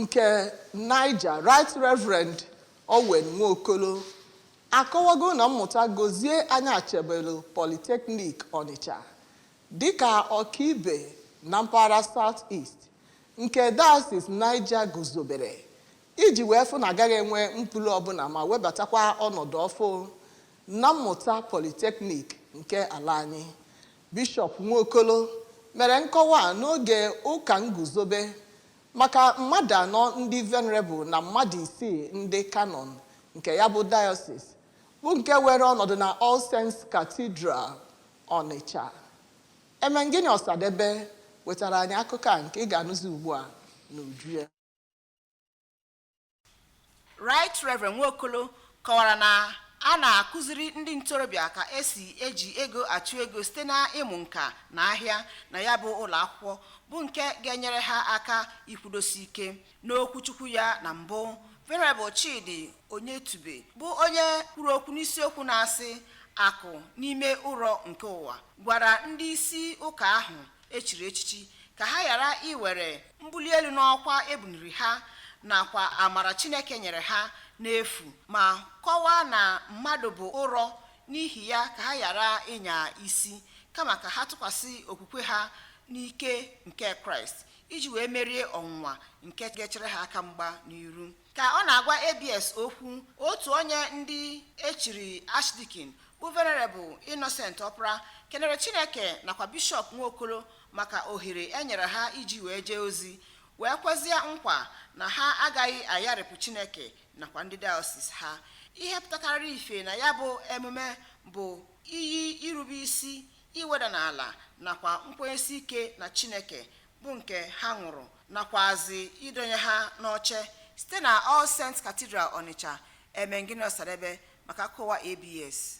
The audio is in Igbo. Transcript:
nke Niger Right Reverend Owen Nwokolo akọwago ụnọ mmụta Gozie Anyachebelu Polytechnic Ọnịcha dịka ọkaibe na mpaghara South East nke Diocese Niger guzobere iji wee fụ na agaghị enwe mpụ ule ọbụla ma webatakwa ọnọdụ ọfụ na mmụta Polytechnic nke ala anyị Bishọp Nwokolo mere nkọwa a n'oge ụka nguzobe Maka mmadụ anọ ndị Venerable na mmadụ isii ndị Canon nke ya bụ Dayọsis bụ nke weere ọnọdụ na All Saints Cathedral, Ọnịcha, Emengini Ọsadebe wetara anyị akụkọ a nke ị ga-anụzi ugbu a n'uju ya. Right Reverend Nwokolo kọwara na a na-akụziri ndị ntorobịa ka esi eji ego achụ ego site na ịmụ nka na ahịa na ya bụ ụlọ akwụkwọ bụ nke ga-enyere ha aka ikwudosi ike n'okwuchukwu ya na mbụ Venerable Chidi Onyetube bụ onye kwuru okwu n'isiokwu na-asị akụ n'ime ụrọ nke ụwa gwara ndị isi ụka ahụ echiri echichi ka ha ghara iwere mbuli elu n'ọkwa ebuniri ha nakwa amara Chineke nyere ha n'efu ma kọwaa na mmadụ bụ ụrọ n'ihi ya ka ha ghara ịnya isi kama ka ha tụkwasị okwukwe ha n'ike nke Kraịst iji wee merie ọnwụnwa nke ga-echere ha aka mgba n'iru Ka ọ na-agwa ABS okwu, otu onye ndị echiri Archdeacon bụ Venerable Innocent Ọpara kenere Chineke nakwa Bishọp Nwokolo maka ohere e nyere ha iji wee jee ozi, wee kwezie nkwa na ha agaghị ayarịpụ Chineke nakwa ndị dayọsis ha. Ihe pụtakarịrị ife na ya bụ emume bụ iyi irube isi, iweda n'ala nakwa nkwenyesi ike na Chineke bụ nke ha ṅụrụ nakwazi idonye ha n'oche site na All Saints Cathedral Ọnịcha Emengini Ọsadebe maka akụkọ ụwa ABS.